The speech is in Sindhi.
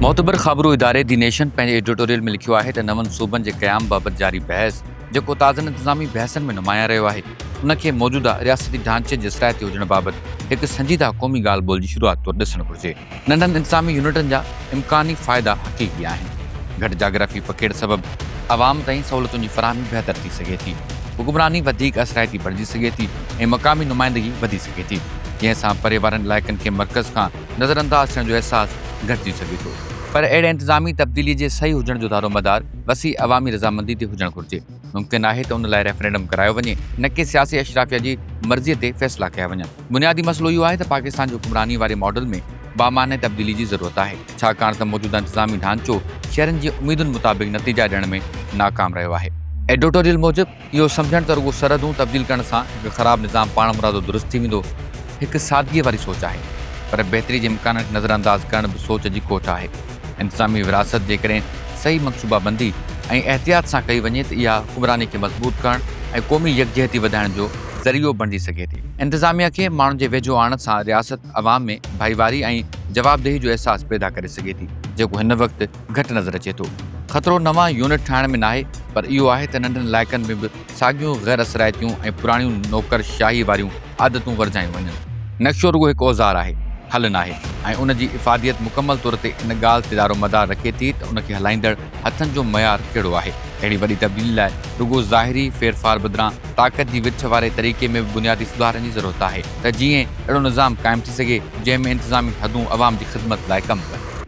معتبر خابرو اداري دي نيشن پنهنجي ايڊيٽوريل ۾ لکيو آهي ته نون صوبن جي قيام بابت جاري بحث جيڪو تازن انتظامي بحثن ۾ نمايان رهيو آهي ان کي موجوده رياستي ڍانچي جي اصلاحيتي هجڻ بابت هڪ سنجيده قومي ڳالهه ٻولهه جي شروعات طور ڏسڻ گهرجي. ننڍن انتظامي يونٽن جا امڪاني فائدا حقيقي آهن. گهٽ جاگرافي پکيڙ سبب عوام تائين سهولتن جي فراهمي بهتر ٿي سگهي ٿي، حڪمراني وڌيڪ اثرائتي بڻجي سگهي ٿي ۽ مقامي نمائندگي وڌي سگهي ٿي، جنهن سان پري وارن علائقن کي مرڪز کان نظر انداز ٿيڻ جو احساس گهٽجي سگهي ٿو. پر اهڙي انتظامي تبديلي جي صحيح هجڻ جو دارومدار وسيع عوامي رضامندي تي هجڻ گهرجي. ممڪن آهي ته ان لاء ريفرنڊم ڪرايو وڃي، نه ڪي سياسي اشرافيا جي مرضيء تي فيصلا ڪيا وڃن. بنيادي مسئلو اهو آهي ته پاڪستان جي حڪمراني واري ماڊل ۾ بامعني تبديلي جي ضرورت آهي، ڇاڪاڻ ته موجوده انتظامي ڍانچو شهرين جي اميدن مطابق نتيجا ڏيڻ ۾ ناڪام رهيو آهي. ايڊيٽوريل موجب، اهو سمجهڻ ته رڳو سرحدون تبديل ڪرڻ سان هڪ خراب نظام پاڻمرادو درست ٿي ويندو، هڪ سادگيء واري سوچ آهي، پر بهتري جي امڪانن کي نظرانداز ڪرڻ به سوچ جي کوٽ آهي. انتظامي ورهاست جيڪڏهن صحيح منصوبه بندي ۽ احتياط سان ڪئي وڃي ته اها حڪمراني کي مضبوط ڪرڻ ۽ قومي يڪجهتي وڌائڻ جو ذريعو بڻجي سگهي ٿي. انتظاميه کي ماڻهن جي ويجهو آڻڻ سان رياست عوام ۾ ڀائيواري ۽ جوابدهي جو احساس پيدا ڪري سگهي ٿي، جيڪو هن وقت گهٽ نظر اچي ٿو. خطرو نوان يونٽ ٺاهڻ ۾ ناهي پر اهو آهي ته ننڍن علائقن ۾ به ساڳيون غير اثرائتيون ۽ پراڻيون نوڪر شاهي واريون عادتون ورجايون وڃن. نقشو رڳو هڪ اوزار آهي، حل ناهي ۽ ان جي افاديت مڪمل طور تي ان ڳالهه تي دار و مدار رکي ٿي ته ان کي هلائيندڙ هٿن جو معيار ڪهڙو آهي. اهڙي وڏي تبديلي لاء رڳو ظاهري ڦيرڦار بدران طاقت جي ورڇ واري طريقي ۾ به بنيادي سڌارن جي ضرورت آهي ته جيئن اهڙو نظام قائم ٿي سگهي جنهن ۾ انتظامي حدون عوام جي خدمت لاء ڪم ڪن.